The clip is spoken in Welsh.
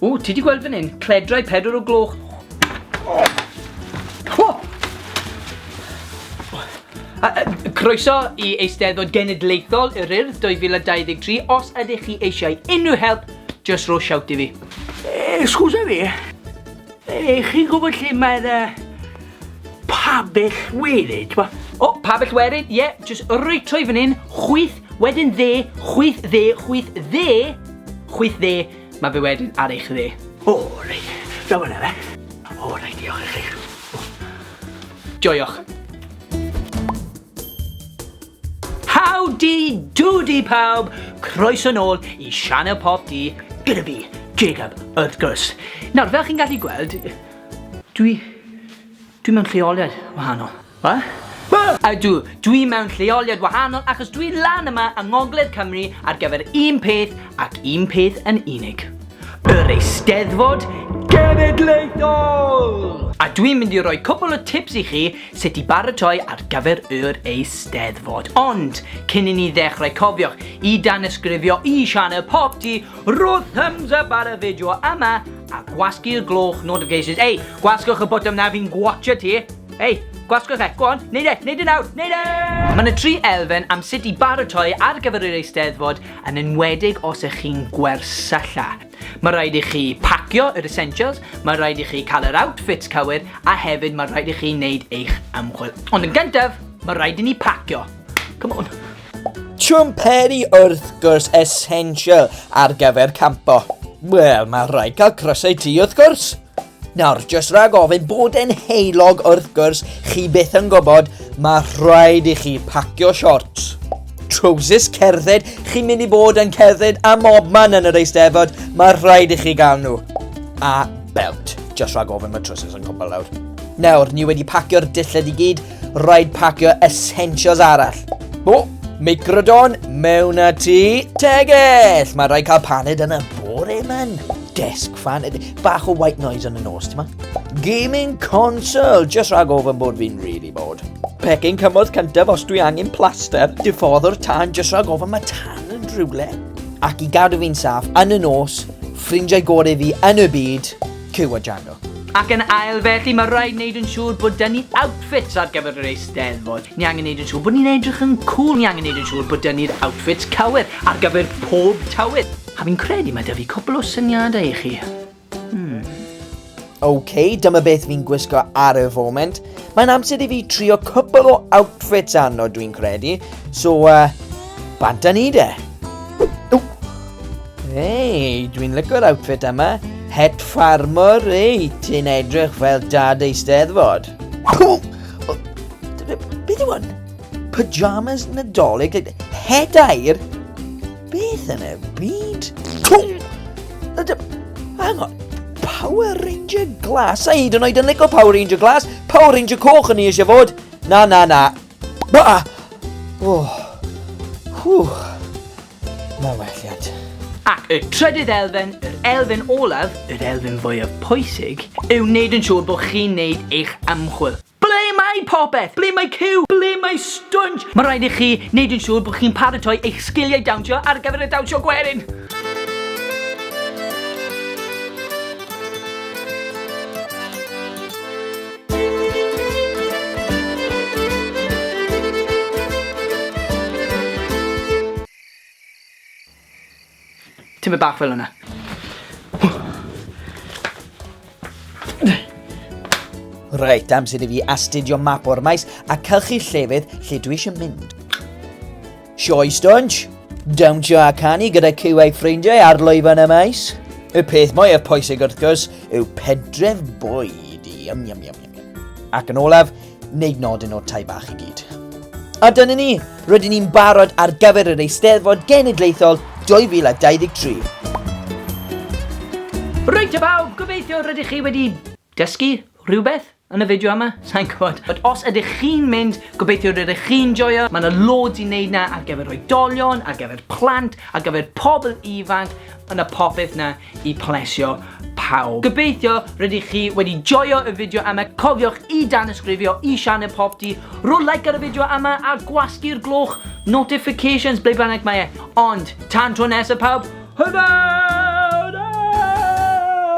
O, ti di gweld fan hyn? Cledrau pedwar o gloch. O! Croeso i Eisteddfod Genedlaethol yr Urdd 2023. Os ydych chi eisiau unrhyw help, just ro siawt i fi. Excusa fi, e, chi'n gwybod lle mae'r uh, pabell werin, ti'n bo? O, pabell werin, ie, yeah, just rwyt trwy fan hyn, chwyth, wedyn dde, chwyth dde, chwyth dde, Chwith dde, mae fe wedyn ar eich dde. O, oh, reit. Daw yna fe. O, oh, reit, diolch i chi. Joioch. Howdy doody pawb! Croeso nôl i Sianel Pop D gyda fi, Jacob, wrth gwrs. Nawr, fel chi'n gallu gweld, dwi... dwi mewn lleoliad wahanol. Ydw, dwi mewn lleoliad wahanol achos dwi lan yma yng ngogledd Cymru ar gyfer un peth ac un peth yn unig. Yr Eisteddfod Genedlaethol! A dwi'n mynd i roi cwpl o tips i chi sut i baratoi ar gyfer yr Eisteddfod. Ond, cyn i ni ddechrau cofiwch i danysgrifio i sianel Pop Tee, rho thumbs up ar y fideo yma a gwasgu'r gloch notifications. Ei, gwasgwch y botwm na fi'n gwatsio ti! Ei, gwasgwch e, go on, neud e, neud e nawr, neud e! Mae yna tri elfen am sut i baratoi ar gyfer yr eisteddfod yn enwedig os ych chi'n gwersylla. Mae rhaid i chi pacio yr essentials, mae rhaid i chi cael yr outfits cywir a hefyd mae rhaid i chi wneud eich ymchwil. Ond yn gyntaf, mae rhaid i ni pacio. Come on. Chwmperi wrth gwrs essential ar gyfer campo. Wel, mae rhaid cael crysau ti wrth gwrs. Nawr, jyst rhag ofyn bod e'n heulog wrth gwrs, chi byth yn gwybod, mae rhaid i chi pacio short. Trowsus cerdded, chi'n mynd i bod yn cerdded a mob man yn yr eisteddfod, mae rhaid i chi gael nhw. A belt, jyst rhag ofyn mae trowsus yn cwbl lawr. Nawr, ni wedi pacio'r dillad i gyd, rhaid pacio essentials arall. O, microdon, mewn a ti. Tegell, mae rhaid cael paned yn y bore man. Desk fan, bach o white noise yn y nos, ti'n ma? Gaming console, just rhag ofyn bod fi'n really bored. Pecyn cymorth cyntaf os dwi angen plaster, diffoddwr tan, just rhag ofyn mae tan yn rhywle. Ac i gadw fi'n saff, yn y nos, ffrindiau gorau fi yn y byd, Cyw a Django. Ac yn ail felly mae rhaid wneud yn siŵr bod dyn ni outfits ar gyfer yr eisteddfod. Ni angen wneud yn siŵr bod ni'n edrych yn cool, ni angen wneud yn siŵr bod dyn ni'r outfits cywir ar gyfer pob tywydd. A fi'n credu mae 'da fi cwpl o syniadau i chi. Hmm. OK, dyma beth fi'n gwisgo ar y foment. Mae'n amser i fi trio cwpl o outfits arno, dwi'n credu. So, uh, bant a ni de. Hei, dwi'n lygo'r outfit yma. Het farmor, ei, ti'n edrych fel dad ei steddfod. Beth yw hwn? Pyjamas nadolig? Het air? Beth yn y byd? Cwng! Hang on. Power Ranger Glas. A hyd yn oed yn lico Power Ranger Glas. Power Ranger Coch yn ni eisiau fod. Na, na, na. Ba! Oh. Whew. Mae welliad. Ac y trydydd elfen, yr elfen olaf, yr elfen fwyaf pwysig, yw wneud yn siŵr bod chi'n wneud eich ymchwil. Ble mae popeth? Ble mae Cyw? Ble mae Stwnj? Mae rhaid i chi wneud yn siŵr bod chi'n paratoi eich sgiliau dawnsio ar gyfer y dawnsio gwerin! Tymed bach fel yna. Reit, amser i fi astudio map o'r maes a cylchu llefydd lle dwi eisiau mynd. Sioi stwnch, dawnsio a canu gyda cyw a'i ffrindiau ar lwyfan y maes. Y peth mwyaf pwysig wrth gwrs yw pedref bwyd i. Yum, yum, yum. Ac yn olaf, wneud nodyn o'r tai bach i gyd. A dyna ni, rydyn ni'n barod ar gyfer yr Eisteddfod Genedlaethol 2023. Rwy'n y bawb, gobeithio rydych chi wedi dysgu rhywbeth yn y fideo yma, sa'n gwybod. Ond os ydych chi'n mynd, gobeithio rydych chi'n joio, mae yna loads i wneud na ar gyfer oedolion, ar gyfer plant, ar gyfer pobl ifanc, yna popeth na i plesio pawb. Gobeithio rydych chi wedi joio y fideo yma, cofiwch i danysgrifio i sianel Popty, rho like ar y fideo yma a gwasgu'r gloch notifications ble bynnag mae e. Ond, tan tro nesaf pawb, hwyl fawr!